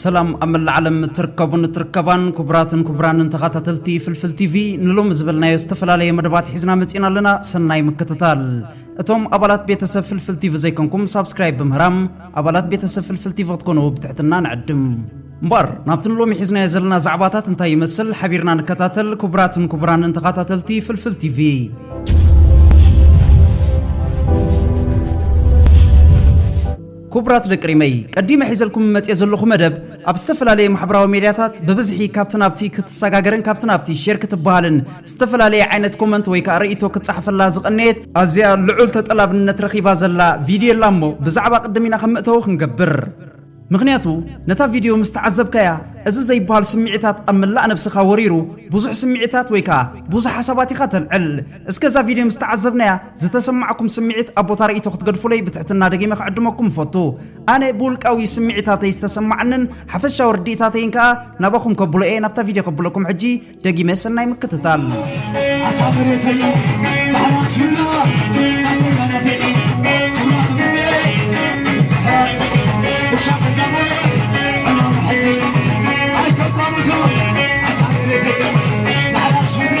ሰላም ኣብ መላእ ዓለም እትርከቡን እትርከባን ክቡራትን ክቡራንን ተኸታተልቲ ፍልፍል ቲቪ ንሎሚ ዝበልናዮ ዝተፈላለየ መደባት ሒዝና መፂና ኣለና ሰናይ ምክትታል እቶም ኣባላት ቤተሰብ ፍልፍል ቲቪ ዘይኮንኩም ሳብስክራይብ ብምህራም ኣባላት ቤተሰብ ፍልፍል ቲቪ ክትኮኑ ብትሕትና ንዕድም እምበር ናብቲ ንሎሚ ሒዝናዮ ዘለና ዛዕባታት እንታይ ይመስል ሓቢርና ንከታተል ክቡራትን ክቡራንን ተኸታተልቲ ፍልፍል ቲቪ ኩቡራት ደቂ ሪመይ ቀዲመ ሒዘልኩም መጽየ ዘለኹ መደብ ኣብ ዝተፈላለየ ማሕበራዊ ሜድያታት ብብዝሒ ካብቲ ናብቲ ክትሰጋገርን ካብቲ ናብቲ ሼር ክትበሃልን ዝተፈላለየ ዓይነት ኮመንት ወይ ከኣ ርእይቶ ክጸሓፈላ ዝቐነየት ኣዝያ ልዑል ተጠላብነት ረኺባ ዘላ ቪድዮ ኣላ እሞ ብዛዕባ ቅድም ኢና ከም መእተዊ ክንገብር ምኽንያቱ ነታ ቪድዮ ምስ ተዓዘብካያ እዚ ዘይበሃል ስምዒታት ኣብ መላእ ነብስኻ ወሪሩ ብዙሕ ስምዒታት ወይ ከኣ ብዙሕ ሓሳባት ኢኻ ተልዕል እስከ እዛ ቪድዮ ምስ ተዓዘብናያ ዝተሰማዕኩም ስምዒት ኣብ ቦታ ርእይቶ ክትገድፉለይ ብትሕትና ደጊመ ክዕድመኩም እፈቱ። ኣነ ብውልቃዊ ስምዒታተይ ዝተሰማዓንን ሓፈሻዊ ርድኢታተይን ከኣ ናባኹም ከብሎ እየ። ናብታ ቪድዮ ከብለኩም ሕጂ ደጊመ ሰናይ ምክትታል። ኣታ መሬተይ ባሕራችና ኣዘጋናተይ ኣምላኽ ምንሽ ሕራት እሻቕ እንዳሞት ዕማም ሕተይ ኣይተቋምቶ ኣታ መሬተይ ባሕራችና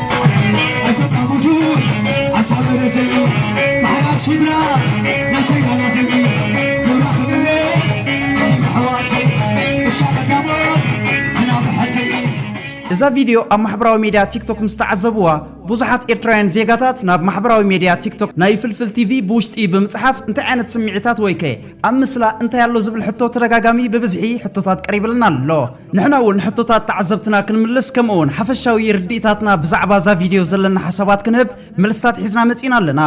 እዛ ቪድዮ ኣብ ማሕበራዊ ሜድያ ቲክቶክ ምስ ተዓዘብዋ ብዙሓት ኤርትራውያን ዜጋታት ናብ ማሕበራዊ ሜድያ ቲክቶክ ናይ ፍልፍል ቲቪ ብውሽጢ ብምጽሓፍ እንታይ ዓይነት ስምዒታት ወይከ ኣብ ምስላ እንታይ ኣሎ ዝብል ሕቶ ተደጋጋሚ ብብዝሒ ሕቶታት ቀሪብልና ኣሎ። ንሕና ውን ሕቶታት ተዓዘብትና ክንምልስ ከምኡ ውን ሓፈሻዊ ርድኢታትና ብዛዕባ እዛ ቪድዮ ዘለና ሓሳባት ክንህብ መልስታት ሒዝና መጺእና ኣለና።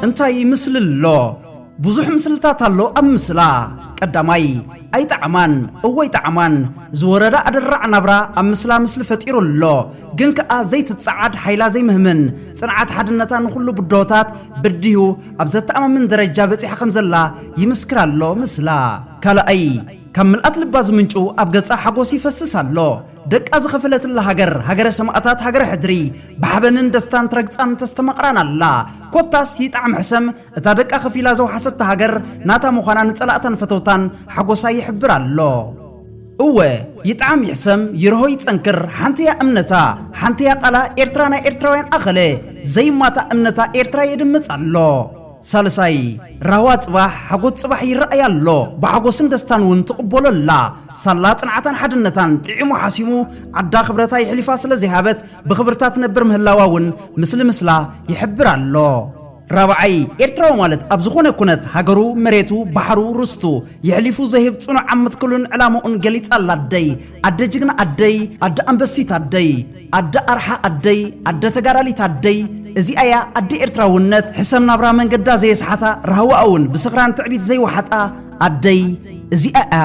እንታይ ምስሊ ኣሎ? ብዙሕ ምስልታት ኣሎ ኣብ ምስላ። ቀዳማይ ኣይጠዓማን እወ ይጠዓማን ዝወረዳ ኣደራዕ ናብራ ኣብ ምስላ ምስሊ ፈጢሩ ኣሎ። ግን ከኣ ዘይትጸዓድ ሓይላ ዘይምህምን ጽንዓት ሓድነታ ንኹሉ ብድሆታት ብዲሁ ኣብ ዘተኣማምን ደረጃ በጺሓ ከም ዘላ ይምስክር ኣሎ ምስላ ካልኣይ ካብ ምልኣት ልባ ዝምንጩ ኣብ ገጻ ሓጎስ ይፈስስ ኣሎ ደቃ ዝኸፈለትላ ሃገር ሃገረ ሰማእታት ሃገረ ሕድሪ ብሓበንን ደስታን ትረግጻን ተስተማቕራን ኣላ ኮታስ ይጥዓም ሕሰም እታ ደቃ ከፊላ ዘውሓሰታ ሃገር ናታ ምዃና ንጸላእታን ፈተውታን ሓጎሳ ይሕብር ኣሎ እወ ይጥዓም ይሕሰም ይርሆ ይጸንክር ሓንቲያ እምነታ ሓንቲያ ቃላ ኤርትራ ናይ ኤርትራውያን ኣኸለ ዘይማታእ እምነታ ኤርትራ የድምጽ ኣሎ ሳልሳይ ራህዋ ጽባሕ ሓጎት ጽባሕ ይረኣይ ኣሎ ብሓጎስን ደስታን ውን ትቕበሎ ኣላ ሳላ ጽንዓታን ሓድነታን ጥዒሙ ሓሲሙ ዓዳ ክብረታ የሕሊፋ ስለ ዘይሃበት ብኽብርታ ትነብር ምህላዋ ውን ምስሊ ምስላ ይሕብር ኣሎ ራብዓይ፣ ኤርትራዊ ማለት ኣብ ዝኾነ ኩነት ሃገሩ፣ መሬቱ፣ ባሕሩ፣ ርስቱ የሕሊፉ ዘይህብ ጽኑዕ ኣብ ምትክሉን ዕላምኡን ገሊጻ ኣላ ኣደይ። ኣደ ጅግና ኣደይ፣ ኣደ ኣንበሲት ኣደይ። ኣደ ኣርሓ ኣደይ፣ ኣደ ተጋዳሊት ኣደይ። እዚኣ እያ ኣደ ኤርትራውነት፣ ሕሰም ናብራ መንገዳ ዘየስሓታ፣ ራህዋኣ እውን ብስኽራን ትዕቢት ዘይወሓጣ ኣደይ እዚኣ እያ።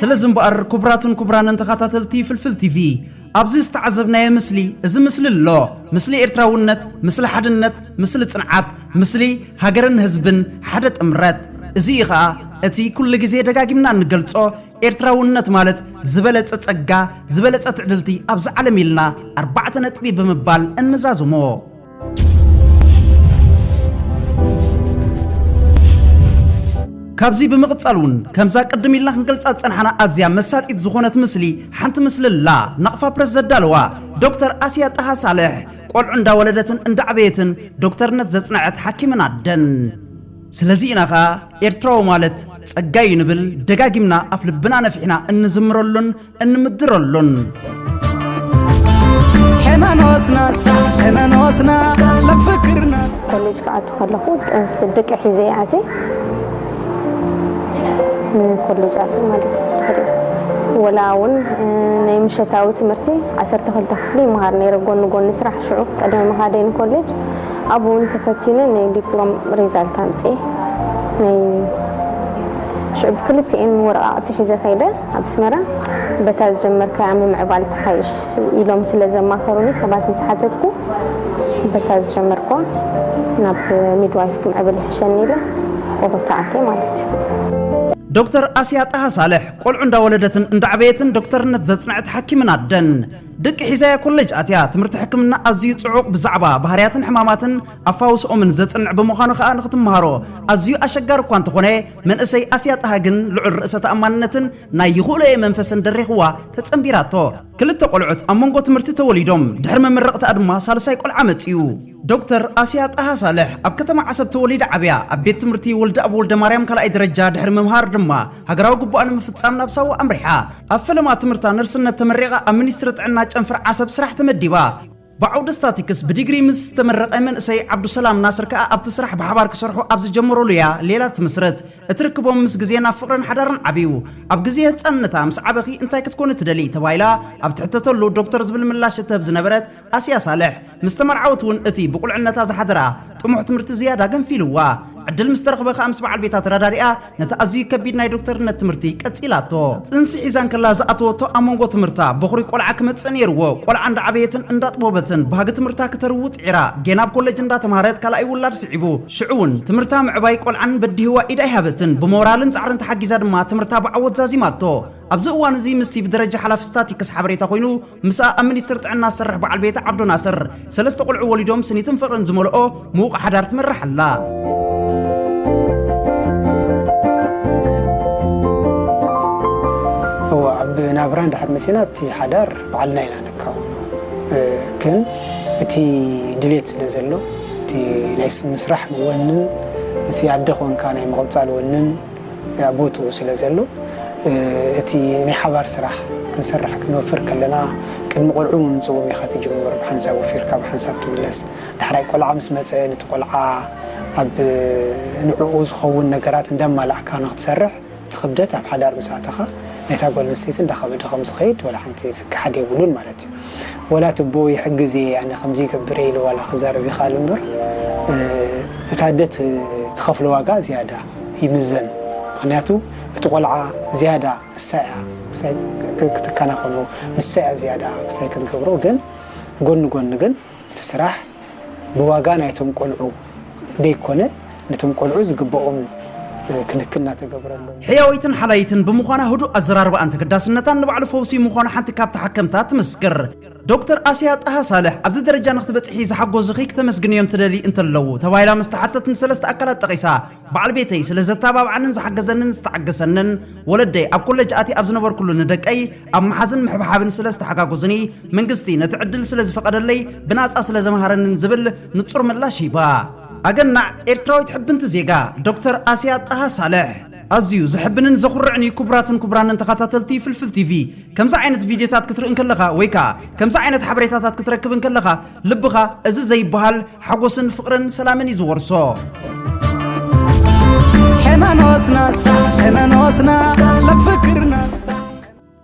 ስለዚ እምበኣር ኩቡራትን ኩቡራንን ተኻታተልቲ ፍልፍል ቲቪ ኣብዚ ዝተዓዘብናዮ ምስሊ እዚ ምስሊ ኣሎ ምስሊ ኤርትራውነት ምስሊ ሓድነት ምስሊ ጽንዓት ምስሊ ሃገርን ህዝብን ሓደ ጥምረት እዚ እዩ ኸኣ እቲ ኩሉ ግዜ ደጋጊምና እንገልጾ ኤርትራውነት ማለት ዝበለጸ ጸጋ ዝበለጸ ትዕድልቲ ኣብዚ ዓለም ኢልና ኣርባዕተ ነጥቢ ብምባል እንዛዝሞ ካብዚ ብምቕጻል እውን ከምዛ ቅድም ኢልና ክንገልጻ ዝጸናሕና ኣዝያ መሳጢት ዝኾነት ምስሊ ሓንቲ ምስሊ ኣላ ናቕፋ ፕረስ ዘዳለዋ ዶክተር ኣስያ ጣሃ ሳልሕ ቆልዑ እንዳወለደትን እንዳዕበየትን ዶክተርነት ዘጽነዐት ሓኪምን ኣደን ስለዚ ኢና ኸኣ ኤርትራዊ ማለት ጸጋዩ ንብል ደጋጊምና ኣፍ ልብና ነፊሕና እንዝምረሉን እንምድረሉን ኮሌጅ ክኣቱ ከለኹ ጥንሲ ድቂ ሒዘ ኣት ንኮሌጅ ኣት ማለት እዩ ወላ እውን ናይ ምሸታዊ ትምህርቲ ዓሰርተ ክልተ ክፍሊ ይመሃር ነይረ ጎኒ ጎኒ ስራሕ ሽዑ ቅድሚ ምኻደይ ንኮሌጅ ኣብኡ እውን ተፈቲነ ናይ ዲፕሎም ሪዛልት ኣምፅኤ ናይ ሽዑ ብክልቲኤን ወረቓቕቲ ሒዘ ከይደ ኣብ ኣስመራ በታ ዝጀመርካያ ምምዕባል ተሓይሽ ኢሎም ስለ ዘማኸሩኒ ሰባት ምስ ሓተትኩ በታ ዝጀመርክዋ ናብ ሚድዋይፍ ክምዕብል ይሕሸኒ ኢለ ኦሮታ ኣትየ ማለት እዩ። ዶክተር ኣስያ ጣሃ ሳልሕ ቆልዑ እንዳወለደትን እንዳዕበየትን ዶክተርነት ዘጽንዐት ሓኪምን ኣደን። ደቂ ሒዛያ ኮለጅ ኣትያ ትምህርቲ ሕክምና ኣዝዩ ጽዑቕ ብዛዕባ ባህርያትን ሕማማትን ኣፋውስኦምን ዘጽንዕ ብምዃኑ ከኣ ንኽትመሃሮ ኣዝዩ ኣሸጋሪ እኳ እንተኾነ መንእሰይ ኣስያ ጣሃ ግን ልዑል ርእሰ ተኣማንነትን ናይ ይኽእሎ'የ መንፈስን ደሪኽዋ ተጸንቢራቶ። ክልተ ቆልዑት ኣብ መንጎ ትምህርቲ ተወሊዶም፣ ድሕሪ መመረቕትኣ ድማ ሳልሳይ ቆልዓ መጺኡ። ዶክተር ኣስያ ጣሃ ሳልሕ ኣብ ከተማ ዓሰብ ተወሊዳ ዓብያ። ኣብ ቤት ትምህርቲ ወልደኣብ ወልደማርያም ካልኣይ ደረጃ ድሕሪ ምምሃር ድማ ሃገራዊ ግቡኣ ንምፍጻም ናብ ሳዋ ኣምሪሓ። ኣብ ፈለማ ትምህርታ ነርስነት ተመሪቓ ኣብ ሚኒስትሪ ጥዕና ጨንፈር ዓሰብ ስራሕ ተመዲባ። ብዓውዲ ስታቲክስ ብዲግሪ ምስ ዝተመረቐ መንእሰይ ዓብዱሰላም ናስር ከኣ ኣብቲ ስራሕ ብሓባር ክሰርሑ ኣብ ዝጀመሩሉ እያ ሌላ ትምስርት። እቲ ርክቦም ምስ ግዜ ናብ ፍቕርን ሓዳርን ዓብዩ። ኣብ ግዜ ህጻንነታ ምስ ዓበኺ እንታይ ክትኮኒ ትደልዪ? ተባሂላ ኣብ ትሕተተሉ ዶክተር ዝብል ምላሽ እትህብ ዝነበረት ኣስያ ሳልሕ፣ ምስ ተመርዓወት እውን እቲ ብቑልዕነታ ዝሓደራ ጥሙሕ ትምህርቲ ዝያዳ ገንፊሉዋ። ዕድል ምስ ተረኽበ ከኣ ምስ በዓል ቤታ ተረዳዲኣ ነቲ ኣዝዩ ከቢድ ናይ ዶክተርነት ትምህርቲ ቀጺላቶ። ጥንሲ ሒዛ እንከላ ዝኣተወቶ ኣብ መንጎ ትምህርታ በዅሪ ቈልዓ ክመጽእ ነይርዎ። ቈልዓ እንዳዓበየትን እንዳጥቦበትን ባህጊ ትምህርታ ክተርዉ ጽዒራ። ጌና ኣብ ኮለጅ እንዳተማህረት ካልኣይ ውላድ ስዒቡ። ሽዑ'ውን ትምህርታ ምዕባይ ቈልዓን በዲህዋ ኢድ ኣይሃበትን። ብሞራልን ጻዕርን ተሓጊዛ ድማ ትምህርታ ብዓወት ዛዚማቶ። ኣብዚ እዋን'ዚ ምስቲ ብደረጃ ሓላፊ ስታቲክስ ሓበሬታ ኰይኑ፣ ምስኣ ኣብ ሚኒስትር ጥዕና ዝሰርሕ በዓል ቤታ ዓብዶ ናስር፣ ሰለስተ ቆልዑ ወሊዶም ስኒትን ፍቕርን ዝመልኦ ምዉቕ ሓዳር ትመርሕ ኣላ። ናብራ እንድሕር መፂና ኣብቲ ሓዳር በዓልና ኢና ንካውኖ ግን እቲ ድሌት ስለ ዘሎ እቲ ናይ ምስራሕ ወንን እቲ ኣደ ኮንካ ናይ ምቕፃል ወንን ኣብ ቦትኡ ስለ ዘሎ እቲ ናይ ሓባር ስራሕ ክንሰርሕ ክንወፍር ከለና ቅድሚ ቆልዑ ምምጽእዎም ኢኻ ትጅምር ብሓንሳብ ወፊርካ ብሓንሳብ ትምለስ ዳሕራይ ቆልዓ ምስ መጸ ነቲ ቆልዓ ኣብ ንዕኡ ዝኸውን ነገራት እንዳማላእካ ንክትሰርሕ እቲ ክብደት ኣብ ሓዳር ምስ ኣተኻ ናይታ ጓል ኣንስተይቲ እንዳኸበደ ከም ዝኸይድ ዋላ ሓንቲ ዝከሓድ የብሉን ማለት እዩ ወላ እቲ ኣቦ ይሕግዝ እየ ኣነ ከምዚ ይገብር እየ ኢሉ ዋላ ክዛረብ ይኽኣል እምበር እታ ኣደ ትኸፍሎ ዋጋ ዝያዳ ይምዘን ምክንያቱ እቲ ቆልዓ ዝያዳ ንሳ እያ ክሳይ ክትከናኸኖ ንሳ እያ ዝያዳ ክሳይ ክትገብሮ ግን ጎኒ ጎኒ ግን እቲ ስራሕ ብዋጋ ናይቶም ቆልዑ ደይኮነ ነቶም ቆልዑ ዝግበኦም ክንክን እናተገብረሎም ሕያወይትን ሓላይትን ብምዃና ህዱእ ኣዘራርባኣን ተገዳስነታን ንባዕሉ ፈውሲ ምዃኑ ሓንቲ ካብ ተሓከምታ ትምስክር። ዶክተር ኣሲያ ጣሃ ሳልሕ፣ ኣብዚ ደረጃ ንክትበጽሒ ዝሓጎዙኺ ክተመስግንዮም ትደልዪ እንተለዉ? ተባሂላ ምስ ተሓተተት ንሰለስተ ኣካላት ጠቒሳ። በዓል ቤተይ፣ ስለ ዘተባብዓንን ዝሓገዘንን ዝተዓገሰንን፣ ወለደይ፣ ኣብ ኮለጅ ኣትየ ኣብ ዝነበርኩሉ ንደቀይ ኣብ ምሓዝን ምሕብሓብን ስለ ዝተሓጋጎዙኒ፣ መንግስቲ ነቲ ዕድል ስለ ዝፈቐደለይ ብናጻ ስለ ዘምሃረንን ዝብል ንጹር ምላሽ ሂባ። ኣገናዕ ኤርትራዊት ሕብንቲ ዜጋ ዶክተር ኣሲያ ጣሃ ሳልሕ! ኣዝዩ ዘሕብንን ዘኹርዕን እዩ ኩቡራትን ኩቡራንን ተኻታተልቲ ፍልፍል ቲቪ ከምዚ ዓይነት ቪድዮታት ክትርኢ እንከለኻ ወይ ከኣ ከምዚ ዓይነት ሓበሬታታት ክትረክብ እንከለኻ ልብኻ እዚ ዘይብሃል ሓጎስን ፍቅርን ሰላምን እዩ ዝወርሶ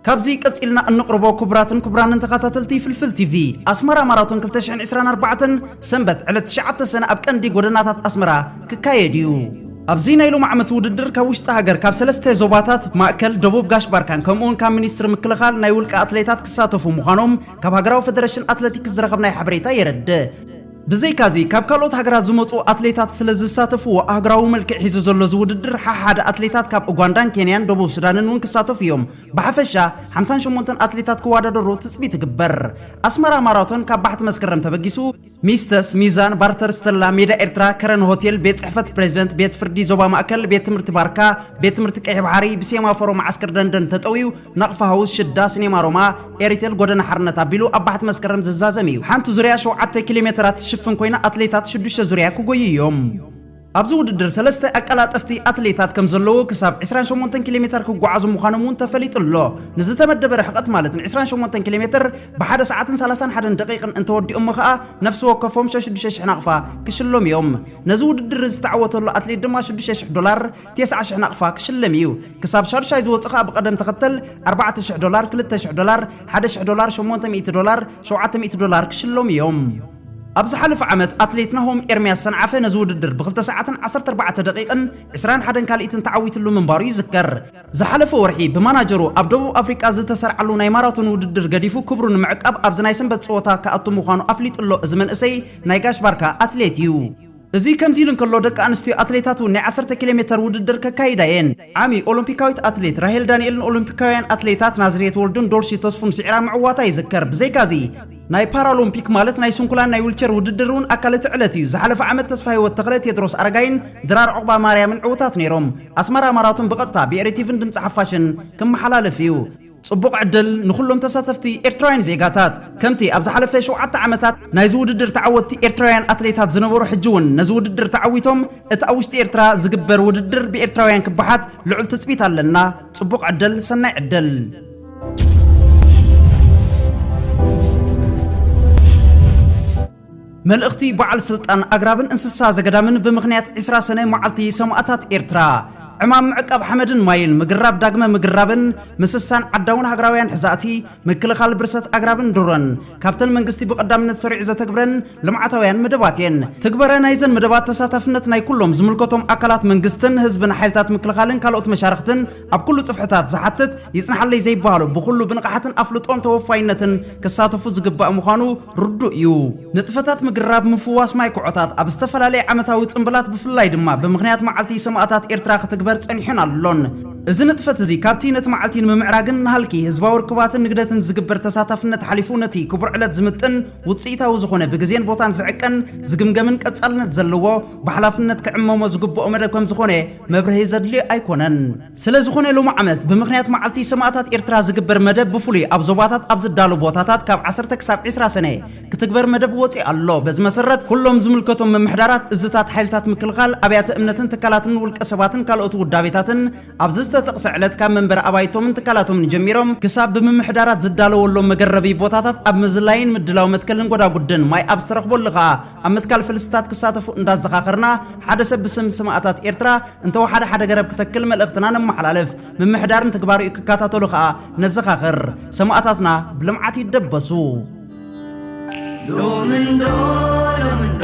ካብዚ ቀጺልና እንቕርቦ ክቡራትን ክቡራንን ተኻታተልቲ ፍልፍል ቲቪ፣ ኣስመራ ማራቶን ክልተ ሽሕን ዕስራን ኣርባዕተን ሰንበት ዕለት ትሽዓተ ሰነ ኣብ ቀንዲ ጎደናታት ኣስመራ ክካየድ እዩ። ኣብዚ ናይ ሎምዓመት ውድድር ካብ ውሽጢ ሃገር ካብ ሰለስተ ዞባታት፣ ማእከል፣ ደቡብ፣ ጋሽ ባርካን ከምኡውን ካብ ሚኒስትሪ ምክልኻል ናይ ውልቀ ኣትሌታት ክሳተፉ ምዃኖም ካብ ሃገራዊ ፈደረሽን ኣትለቲክስ ዝረኸብናዮ ሓበሬታ የረድእ። ብዘይካ'ዚ ካብ ካልኦት ሃገራት ዝመጽኡ ኣትሌታት ስለ ዝሳተፍዎ ኣህጉራዊ መልክዕ ሒዙ ዘሎ እዚ ውድድር ሓሓደ ኣትሌታት ካብ ኡጓንዳን ኬንያን ደቡብ ሱዳንን እውን ክሳተፉ እዮም። ብሓፈሻ ሓምሳን ሸሞንተን ኣትሌታት ክዋዳደሩ ትጽቢት ይግበር። ኣስመራ ማራቶን ካብ ባሕቲ መስከረም ተበጊሱ። ሚስተስ፣ ሚዛን፣ ባርተር፣ ስተላ፣ ሜዳ ኤርትራ፣ ከረን ሆቴል፣ ቤት ጽሕፈት ፕረዚደንት፣ ቤት ፍርዲ ዞባ ማእከል፣ ቤት ትምህርቲ ባርካ፣ ቤት ትምህርቲ ቀይሕ ባሕሪ፣ ብሴማፎሮ መዓስከር ደንደን ተጠውዩ፣ ናቕፋ ሃውስ ሽዳ ሲኔማ ሮማ ኤሪቴል ጎደና ሓርነት ኣቢሉ ኣብ ባሕቲ መስከረም ዝዛዘም እዩ። ሓንቲ ዙርያ ሸውዓተ ኪሎ ሜተራት ትሽፍን ኮይና ኣትሌታት ሽዱሽተ ዙርያ ክጎዩ እዮም። ኣብዚ ውድድር ሰለስተ ኣቀላጠፍቲ ኣትሌታት ከምዘለዉ ክሳብ ዕስራን ሸሞንተን ኪሎ ሜተር ክጓዓዙ ምዃኖም እውን ተፈሊጡ ኣሎ። ንዝተመደበ ርሕቐት ማለት ንዕስራን ሸሞንተን ኪሎ ሜተር ብሓደ ሰዓትን ሰላሳን ሓደን ደቒቕን እንተወዲኦሞ ከኣ ነፍሲ ወከፎም ሸሽዱሽተ ሽሕ ናቕፋ ክሽለሙ እዮም። ነዚ ውድድር እዚ ዝተዓወተሉ ኣትሌት ድማ ሽዱሽተ ሽሕ ዶላር ቴስዓ ሽሕ ናቕፋ ክሽለም ኢዩ። ክሳብ ሻዱሻይ ዝወጹ ከኣ ብቐደም ተኸተል ኣርባዕተ ሽሕ ዶላር፣ ክልተ ሽሕ ዶላር፣ ሓደ ሽሕ ዶላር፣ ሸሞንተ ሚእቲ ዶላር፣ ሸውዓተ ሚእቲ ዶላር ክሽለሙ ኢዮም። ኣብ ዝሓለፈ ዓመት ኣትሌት ናሆም ኤርምያስ ሰንዓፈ ነዚ ውድድር ብክልተ ሰዓትን ዓሰርተ ኣርባዕተ ደቒቕን ዕስራን ሓደን ካልኢትን ተዓዊትሉ ምንባሩ ይዝከር። ዝሓለፈ ወርሒ ብማናጀሩ ኣብ ደቡብ ኣፍሪቃ ዝተሰርዓሉ ናይ ማራቶን ውድድር ገዲፉ ክብሩ ንምዕቃብ ኣብዚ ናይ ሰንበት ጸወታ ክኣቱ ምዃኑ ኣፍሊጡ'ሎ እዚ መንእሰይ ናይ ጋሽ ባርካ ኣትሌት ኢዩ። እዚ ከምዚ ኢሉ እንከሎ፣ ደቂ ኣንስትዮ ኣትሌታት እውን ናይ ዓሰርተ ኪሎ ሜተር ውድድር ከካይዳ እየን። ዓሚ ኦሎምፒካዊት ኣትሌት ራሄል ዳንኤል ንኦሎምፒካውያን ኣትሌታት ናዝርየት ወልዱን ዶልሺ ተስፉን ስዒራ ምዕዋታ ይዝከር። ብዘይካዚ፣ ናይ ፓራሎምፒክ ማለት ናይ ስንኩላን ናይ ዊልቸር ውድድር እውን ኣካል እቲ ዕለት እዩ። ዝሓለፈ ዓመት ተስፋሂወት ተኽለ፣ ቴድሮስ ኣረጋይን ድራር ዑቕባማርያምን ዕውታት ነይሮም። ኣስመራ ማራቶን ብቐጥታ ብኤሪቲቪን ድምጺ ሓፋሽን ክመሓላለፍ እዩ። ጽቡቕ ዕድል ንኹሎም ተሳተፍቲ ኤርትራውያን ዜጋታት። ከምቲ ኣብ ዝሓለፈ ሸውዓተ ዓመታት ናይዚ ውድድር ተዓወትቲ ኤርትራውያን ኣትሌታት ዝነበሩ ሕጂ ውን ነዚ ውድድር ተዓዊቶም እቲ ኣብ ውሽጢ ኤርትራ ዝግበር ውድድር ብኤርትራውያን ክበሓት ልዑል ትጽቢት ኣለና። ጽቡቕ ዕድል ሰናይ ዕድል። መልእኽቲ በዓል ስልጣን ኣግራብን እንስሳ ዘገዳምን ብምኽንያት ዕስራ ሰነ መዓልቲ ሰማእታት ኤርትራ፣ ዕማም ምዕቃብ ሓመድን ማይን፣ ምግራብ ዳግመ ምግራብን ምስሳን ዓዳውን ሃገራውያን ሕዛእቲ፣ ምክልኻል ብርሰት ኣግራብን ድሮን፣ ካብተን መንግስቲ ብቐዳምነት ሰሪዑ ዘተግብረን ልምዓታውያን መደባት እየን። ትግበረ ናይዘን መደባት ተሳታፍነት ናይ ኩሎም ዝምልከቶም ኣካላት መንግስትን ህዝብን ሓይልታት ምክልኻልን ካልኦት መሻርኽትን፣ ኣብ ኩሉ ጽፍሕታት ዝሓትት ይጽንሓለይ ዘይበሃሎ ብኹሉ ብንቕሓትን ኣፍልጦን ተወፋይነትን ክሳተፉ ዝግባእ ምዃኑ ርዱእ እዩ። ንጥፈታት ምግራብ ምፍዋስ ማይ ኩዖታት ኣብ ዝተፈላለየ ዓመታዊ ጽምብላት ብፍላይ ድማ ብምኽንያት መዓልቲ ሰማእታት ኤርትራ ክትግበር ጸኒሑን ኣሎን። እዚ ንጥፈት እዚ ካብቲ ነቲ መዓልቲ ንምምዕራግን ንሃልኪ ህዝባዊ ርክባትን ንግደትን ዝግበር ተሳታፍነት ሓሊፉ ነቲ ክቡር ዕለት ዝምጥን ውጽኢታዊ ዝኾነ ብግዜን ቦታን ዝዕቀን ዝግምገምን ቀጻልነት ዘለዎ ብሓላፍነት ክዕመሞ ዝግበኦ መደብ ከምዝኾነ መብርሂ ዘድልዮ ኣይኮነን። ስለዝኾነ ሎሚ ዓመት ብምኽንያት መዓልቲ ሰማእታት ኤርትራ ዝግበር መደብ ብፍሉይ ኣብ ዞባታት ኣብ ዝዳሎ ቦታታት ካብ ዓሰርተ ክሳብ ዕስራ ሰነ ክትግበር መደብ ወጺኡ ኣሎ። በዚ መሰረት ኩሎም ዝምልከቶም ምምሕዳራት፣ እዝታት ሓይልታት ምክልኻል፣ ኣብያተ እምነትን ትካላትን ውልቀ ሰባትን ካልኦት ውዳቤታትን ኣብዚ ዝተጠቕሰ ዕለት ካብ መንበሪ ኣባይቶምን ትካላቶምን ጀሚሮም ክሳብ ብምምሕዳራት ዝዳለወሎም መገረቢ ቦታታት ኣብ ምዝላይን ምድላው መትከልን ጎዳጉድን ማይ ኣብ ዝተረኽበሉ ከኣ ኣብ ምትካል ፍልስታት ክሳተፉ እንዳዘኻኸርና ሓደ ሰብ ብስም ስማእታት ኤርትራ እንተወሓደ ሓደ ገረብ ክተክል መልእኽትና ነመሓላልፍ። ምምሕዳርን ትግባሬኡ ክካታተሉ ከኣ ነዘኻኽር። ሰማእታትና ብልምዓት ይደበሱ። ሎምንዶ ሎምንዶ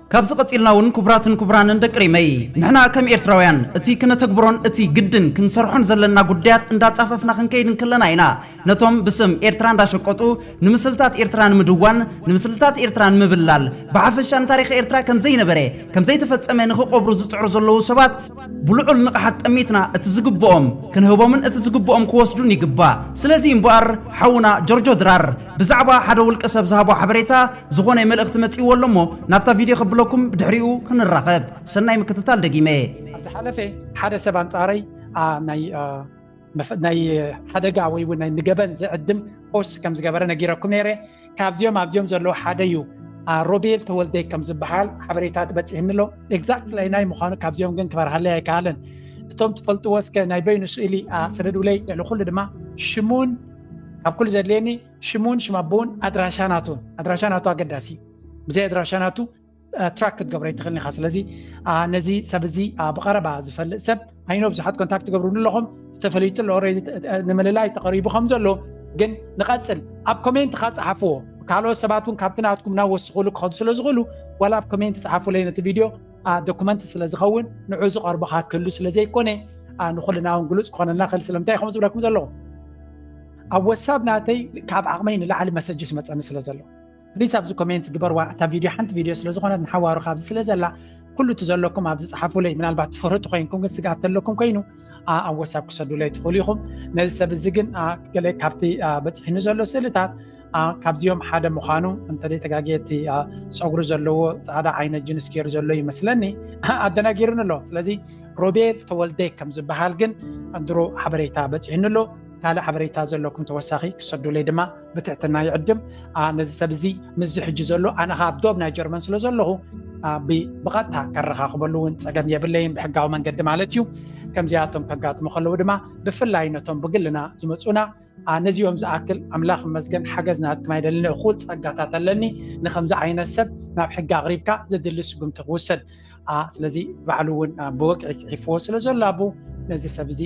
ካብዚ ቀጺልና ውን ኩቡራትን ኩቡራንን ደቂ ሪመይ ንሕና ከም ኤርትራውያን እቲ ክነተግብሮን እቲ ግድን ክንሰርሖን ዘለና ጉዳያት እንዳጻፈፍና ክንከይድ እንክለና ኢና ነቶም ብስም ኤርትራ እንዳሸቀጡ ንምስልታት ኤርትራ ንምድዋን ንምስልታት ኤርትራ ንምብላል ብሓፈሻ ንታሪኽ ኤርትራ ከምዘይነበረ ከምዘይተፈጸመ ንኽቆብሩ ዝጽዕሩ ዘለዉ ሰባት ብልዑል ንቕሓት ጠሚትና እቲ ዝግብኦም ክንህቦምን እቲ ዝግብኦም ክወስዱን ይግባእ። ስለዚ እምበኣር ሓውና ጆርጆ ድራር ብዛዕባ ሓደ ውልቀ ሰብ ዝሃቦ ሓበሬታ ዝኾነ መልእኽቲ መጺእዎ ኣሎ እሞ ናብታ ቪድዮ ከብለኩም ብድሕሪኡ ክንራኸብ። ሰናይ ምክትታል ደጊመ። ኣብ ዝሓለፈ ሓደ ሰብ ኣንጻረይ ኣ ናይ። ናይ ሓደጋ ወይ እውን ናይ ንገበን ዝዕድም ፖስት ከም ዝገበረ ነጊረኩም ነይረ ካብዚኦም ኣብዚኦም ዘለዉ ሓደ እዩ ሮቤል ተወልደይ ከም ዝበሃል ሓበሬታ ትበፅህኒ ኣሎ ኤግዛክት ላይ ናይ ምዃኑ ካብዚኦም ግን ክበርሃለይ ኣይከኣለን እቶም ትፈልጥዎ እስከ ናይ በይኑ ስእሊ ስደዱለይ ልዕሊ ኩሉ ድማ ሽሙን ካብ ኩሉ ዘድልየኒ ሽሙን ሽማቦውን ኣድራሻ ናቱን ኣድራሻ ናቱ ኣገዳሲ ብዘይ ኣድራሻ ናቱ ትራክ ክትገብሮ ይትኽእል ኢኻ ስለዚ ነዚ ሰብ እዚ ብቐረባ ዝፈልጥ ሰብ ኣይኖ ብዙሓት ኮንታክት ትገብርሉ ኣለኹም ዝተፈለዩ ጥሎ ንምልላይ ተቐሪቡ ከም ዘሎ ግን ንቐፅል ኣብ ኮሜንት ካ ፀሓፍዎ ካልኦት ሰባት እውን ካብቲ ናትኩም ናብ ወስኽሉ ክኸዱ ስለ ዝኽእሉ ዋላ ኣብ ኮሜንት ፀሓፉለይ ነቲ ቪድዮ ዶኩመንት ስለ ዝኸውን ንዑ ዝቐርቡካ ክህሉ ስለ ዘይኮነ ንኩልና እውን ግሉፅ ክኾነልና ክእል ስለምንታይ ከም ዝብለኩም ዘለኹ ኣብ ወሳብ ናተይ ካብ ዓቕመይ ንላዕሊ መሰጅ ስመፀኒ ስለ ዘሎ ፕሊስ ኣብዚ ኮሜንት ግበርዋ እታ ቪድዮ ሓንቲ ቪድዮ ስለ ዝኾነት ንሓዋሩ ካብዚ ስለ ዘላ ኩሉ እቲ ዘለኩም ኣብዚ ፀሓፉለይ ምናልባት ትፈርጡ ኮይንኩም ግን ስግኣት ተለኩም ኮይኑ ኣብ ወሳብ ክሰዱለይ ትኽእሉ ኢኹም ነዚ ሰብ እዚ ግን ገለ ካብቲ በፂሒኒ ዘሎ ስእልታት ካብዚኦም ሓደ ምዃኑ እንተዘይ ተጋጊየ እቲ ፀጉሪ ዘለዎ ፃዕዳ ዓይነት ጅንስ ገይሩ ዘሎ ይመስለኒ ኣደናጊሩኒ ኣሎ ስለዚ ሮቤል ተወልደ ከም ዝበሃል ግን ድሮ ሓበሬታ በፂሕኒ ኣሎ ካልእ ሓበሬታ ዘለኩም ተወሳኺ ክሰዱለይ ድማ ብትሕትና ይዕድም ነዚ ሰብ እዚ ምስዚ ሕጂ ዘሎ ኣነ ከዓ ኣብ ዶብ ናይ ጀርመን ስለ ዘለኹ ብቐጥታ ከረኻኽበሉ እውን ፀገም የብለይን ብሕጋዊ መንገዲ ማለት እዩ ከምዚኣቶም ከጋጥሙ ከለዉ ድማ ብፍላይ ነቶም ብግልና ዝመፁና ነዚኦም ዝኣክል ኣምላኽ መስገን ሓገዝ ናትኩም ኣይደልን እኹል ፀጋታት ኣለኒ ንከምዚ ዓይነት ሰብ ናብ ሕጊ ኣቕሪብካ ዘድሊ ስጉምቲ ክውሰድ ስለዚ ባዕሉ እውን ብወግዒ ፅሒፍዎ ስለ ዘሎ ኣቡ ነዚ ሰብ እዚ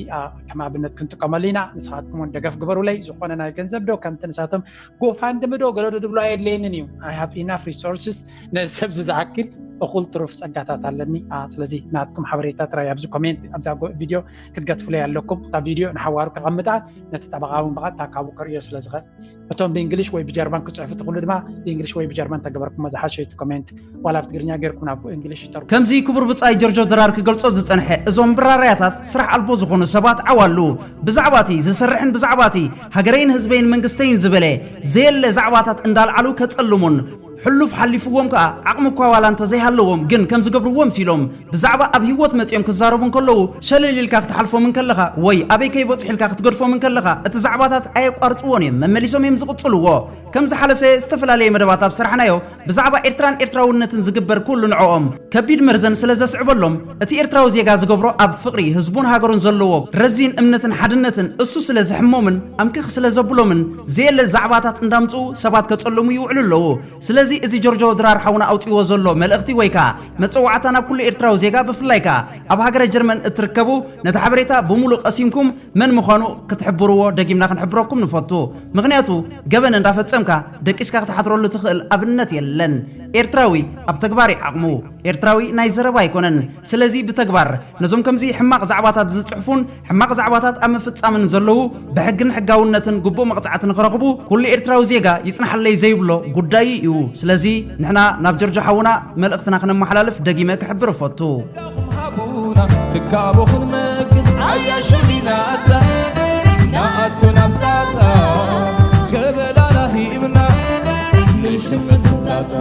ከም ኣብነት ክንጥቀመሉ ኢና ንስኻትኩም ን ደገፍ ግበሩለይ ዝኾነ ናይ ገንዘብ ዶ ከምቲ ንሳቶም ጎፋንድሚ ዶ ገለዶ ድብሎ ኣየድለየንን እዩ ኣይ ሃቭ ኢናፍ ሪሶርስስ ነዚ ሰብ እዚ ዝኣክል እኹል ትሩፍ ፀጋታት ኣለኒ ስለዚ ናትኩም ሓበሬታ ጥራይ ኣብዚ ኮሜንት ኣብዛ ቪድዮ ክትገትፍለይ ኣለኩም እታ ቪድዮ ንሓዋሩ ከቐምጣ ነቲ ጠበቓ እውን ብቐጥታ ካብኡ ከርእዮ ስለ ዝኽእል እቶም ብእንግሊሽ ወይ ብጀርመን ክፅሕፉ ትኽእሉ ድማ ብእንግሊሽ ወይ ብጀርመን ተገበርኩሞ ዝሓሸ እቲ ኮሜንት ዋላ ብትግርኛ ጌርኩም ናብ እንግሊሽ ይተርጉ ከምዚ ክቡር ብጻይ ጀርጆ ድራር ክገልጾ ዝጸንሐ እዞም ብራራያታት ስራሕ ኣልቦ ዝኾኑ ሰባት ዓዋሉ ብዛዕባ እቲ ዝሰርሕን ብዛዕባ እቲ ሃገረይን ህዝበይን መንግስተይን ዝበለ ዘየለ ዛዕባታት እንዳልዓሉ ከጸልሙን ሕሉፍ ሓሊፍዎም ከኣ ዓቕሚ እኳ ዋላ እንተ ዘይሃለዎም ግን ከም ዝገብርዎ ምሲሎም ብዛዕባ ኣብ ሂወት መጺኦም ክዛረቡ እንከለዉ ሸለል ኢልካ ክትሓልፎም እንከለኻ ወይ ኣበይ ከይበጽሑ ኢልካ ክትገድፎም እንከለኻ እቲ ዛዕባታት ኣየቋርጽዎን እዮም መመሊሶም እዮም ዝቕጽልዎ ከም ዝሓለፈ ዝተፈላለየ መደባት ኣብ ሰራሕናዮ ብዛዕባ ኤርትራን ኤርትራውነትን ዝግበር ኩሉ ንዕኦም ከቢድ መርዘን ስለ ዘስዕበሎም እቲ ኤርትራዊ ዜጋ ዝገብሮ ኣብ ፍቕሪ ህዝቡን ሃገሩን ዘለዎ ረዚን እምነትን ሓድነትን እሱ ስለ ዝሕሞምን ኣምክኽ ስለ ዘብሎምን ዘየለ ዛዕባታት እንዳምጽኡ ሰባት ከጸልሙ ይውዕሉ ኣለዉ ስለዚ እዚ ጆርጆ ድራር ሓውና ኣውጺዎ ዘሎ መልእኽቲ ወይ ከኣ መጸዋዕታ ናብ ኩሉ ኤርትራዊ ዜጋ ብፍላይ ከኣ ኣብ ሃገረ ጀርመን እትርከቡ ነቲ ሓበሬታ ብሙሉ ቀሲንኩም መን ምዃኑ ክትሕብርዎ ደጊምና ክንሕብረኩም ንፈቱ ምኽንያቱ ገበን እንዳፈጸምካ ደቂስካ ክትሓትረሉ ትኽእል ኣብነት የለን ኤርትራዊ ኣብ ተግባር ዩ ዓቕሙ ኤርትራዊ ናይ ዘረባ ኣይኮነን ስለዚ ብተግባር ነዞም ከምዚ ሕማቅ ዛዕባታት ዝጽሕፉን ሕማቅ ዛዕባታት ኣብ ምፍጻምን ዘለዉ ብሕግን ሕጋውነትን ግቡእ መቅጻዕቲ ንክረኽቡ ኩሉ ኤርትራዊ ዜጋ ይጽናሓለይ ዘይብሎ ጉዳዩ ኢዩ ስለዚ ንሕና ናብ ጀርጆ ሓውና መልእኽትና ክነማሓላልፍ ደጊመ ክሕብር እፈቱ። ጸጋኹም ሃቡና ትካቦ ክንመግብ ዓያሹ ዲናታ ንኣቱ ናብ ጣጣ ገበላና ሂብና ንሽምት ጣጣ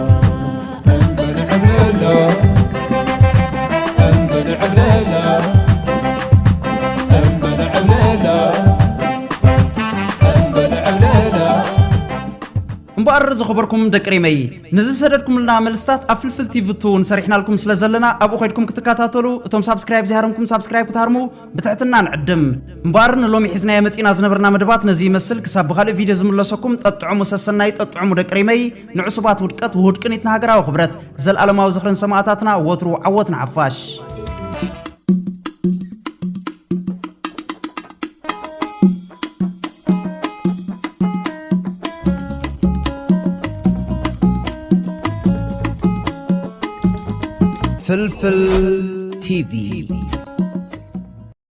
እምበኣር ዝኸበርኩም ደቂ ሪመይ ነዚ ዝሰደድኩምልና መልስታት ኣብ ፍልፍል ቲቪ ቱ ንሰሪሕናልኩም ስለ ዘለና ኣብኡ ከድኩም ክትከታተሉ እቶም ሳብስክራይብ ዘይሃረምኩም ሳብስክራይብ ክትሃርሙ ብትሕትና ንዕድም እምበኣር ንሎሚ ሒዝናዮ መፂእና ዝነበርና መደባት ነዚ ይመስል ክሳብ ብካልእ ቪድዮ ዝምለሰኩም ጠጥዕሙ ሰሰናዩ ጠጥዕሙ ደቂ ሪመይ ንዕሱባት ውድቀት ውሁድ ቅኒት ንሃገራዊ ክብረት! ዘልኣለማዊ ዝኽሪ ንሰማእታትና! ወትሩ ዓወት ንሓፋሽ! ፍልፍል ቲቪ